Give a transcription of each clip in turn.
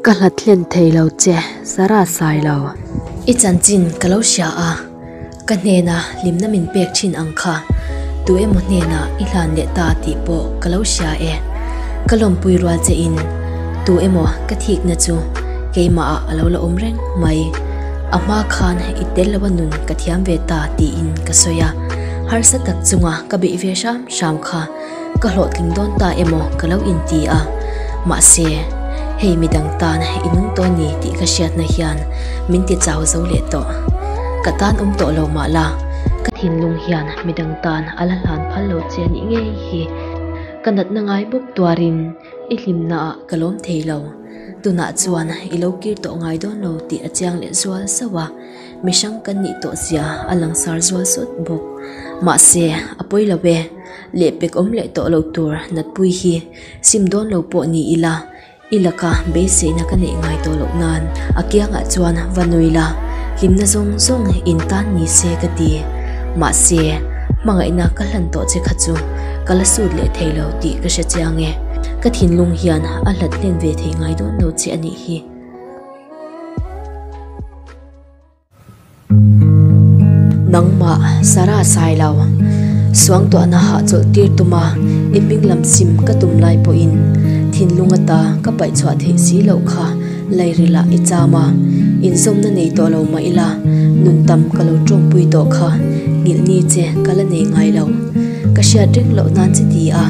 Ka hla thlen thei lo che, Sara sai lo. I chanchin ka lo hria a, ka hnena hlimna min pek thin ang kha. Tu emaw hnenah i hlan leh ta tih pawh ka lo hria e. Ka lawmpui rual che in, tu emaw ka thikna chu keimahah a lo la awm reng mai. A hma khan i tel lo a nun ka thiam ve ta tiin ka sawi a, harsa tak chunga ka beih ve hram hram kha ka hlawhtling dawn ta emaw ka lo inti a, mahse hei mi dang tan i nung tawh a ni tih ka hriatna hian min ti chau zo leh tawh. Ka tan awm tawh lo mah la, ka thinlung hian mi dang tan a la hlan phal lo che a nih ngei hi ka natna ngai bawk tuarin i hlimnaah ka lawm thei lo. Tunah chuan i lo kir tawh ngai dawn lo tih a chiang leh zual zauh a, mihrang kan nih tawh zia a langsar zual sawt bawk. Mahse, a pawi lo e, leh pek awm leh tawh lo tur natpui hi sim dawn lo pawh ni ila, i laka beiseina ka neih ngai tawh loh nan a kiangah chuan va nui la, hlimna zawng zawng in tan ni se ka ti. Mahse, hmangaihna ka hlan tawh che kha chu ka la sut leh thei lo tih ka hre chiang e. Ka thinlung hian a hlat len ve thei ngai dawn lo che a nih hi. Nangmah Sara Sailo, suangtuahna hah chawlh tir tuma i hminglam chim ka tum lai pawhin thinlung ata ka paih chhuah theih si loh kha. Lairilah i cham a, insawmna nei tawh lo mah ila, nun tam ka lo tawngpui tawh kha, ngilhni che ka la nei ngai lo. Ka hriat reng loh nan chi ti a,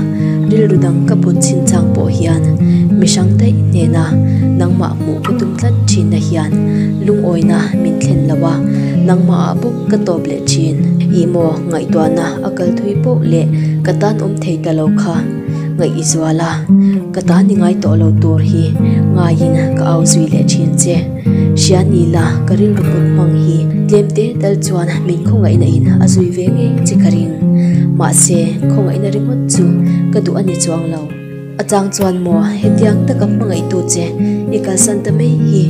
rilru dang ka put chinchang pawh hian mihrang daih hnena nangmah hmuh ka tum tlat thinna hian lungawina min thlen lo a, nangmahah bawk ka tawp leh thin. I maw ngaihtuahna a kal thui poh leh ka tan awm thei ta lo kha. ngaih i zual a, ka tahni ngai tawh lo tur hi ngaiin ka au zui leh thin che. Hria ni la, ka rilru put hmang hi tlem te tal chuan min khawngaihna in a zui ve ngei che ka ring. Mahse, khawngaihna ringawt chu ka duh a ni chuang lo. A chang chuan maw, hetiang taka hmangaihtu che i kalsan ta mai hi,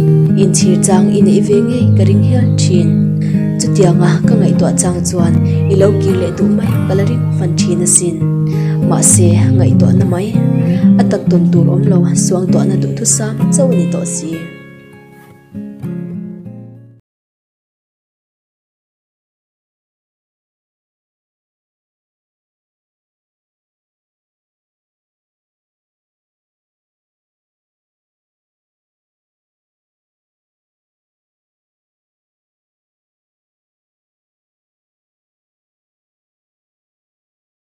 in chhir chang i neih ve ngei ka ring hial thin. Chutianga ka ngaihtuah chang chuan i lo kir leh duh mai ka la ring hman thin asin. Mahse, ngaihtuahna mai a tak tawn tur awm lo, suangtuahna duhthusa chauh a ni tawh si.